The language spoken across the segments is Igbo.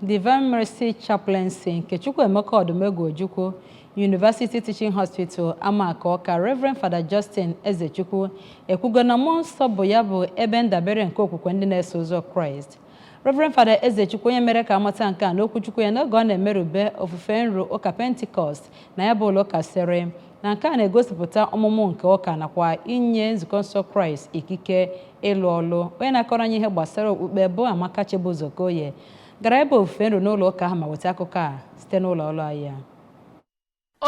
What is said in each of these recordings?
Divine Mercy Chaplaincy nke Chukwuemeka Odumegwu Ojukwu University Teaching Hospital Amaku Ọka Reverend Fada Justin Ezechukwu ekwugo na mmụọ nsọ bụ ya bụ ebe ndabere nke okwukwe ndị na-eso ụzọ Kraịst Reverend Fada Ezechukwu onye mere ka amata nke a n'okwuchukwu ya n'oge ọ na-emerube ofufe nru ụka Pentikọst na ya bụ ụlọ ụka sịrị na nke a na-egosipụta ọmụmụ nke ụka nakwa inye nzukọ nsọ kraịst ikike ịlụ ọlụ onye na-akọrọ anyị ihe gbasara okpukpe bụ amaka chibụzọ okoye gara ebe ofufe nru n'ụlọ ụka ahụ ma weta akụkọ a site n'ụlọ ọrụ anyị a.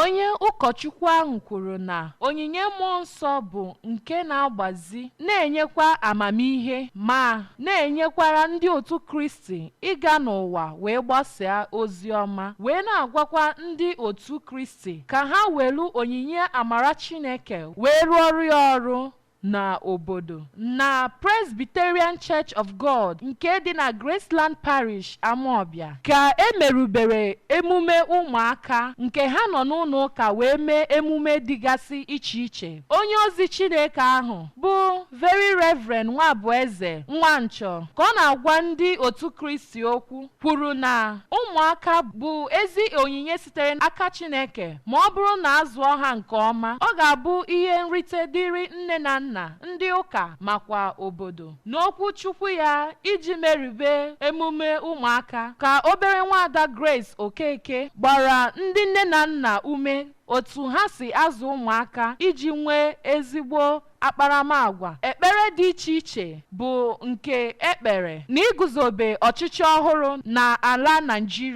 onye ụkọchukwu ahụ kwuru na onyinye mmụọ nsọ bụ nke na-agbazi na-enyekwa amamihe ma na-enyekwara ndị otu kristi ịga n'ụwa wee gbasaa ozi ọma wee na-agwakwa ndị otu kristi ka ha welu onyinye amara Chineke wee rụọrọ ya ọrụ na obodo na Presbyterian Church of God nke dị na Graceland Parish, Amawbia ka e merubere emume ụmụaka nke ha nọ n'ụlọ ụka wee mee emume dịgasị iche iche. Onye ozi Chineke ahụ bụ Very Reverend Nwabueze Nwanchọ ka ọ na-agwa ndị otu Kristi okwu. kwuru na ụmụaka bụ ezi onyinye sitere n'aka Chineke ma ọ bụrụ na a zụọ ha nke ọma, ọ ga-abụ ihe nrite dịrị nne na nna, ndị ụka makwa obodo. N'okwu Chukwu ya iji merube emume ụmụaka ka obere nwaada Grace Okeke gbara ndị nne na nna ume otu ha si azụ ụmụaka iji nwee ezigbo Akparamagwa. Ekpere dị iche iche bụ nke e kpere n'iguzobe ọchịchị ọhụrụ n'ala Naịjirịa.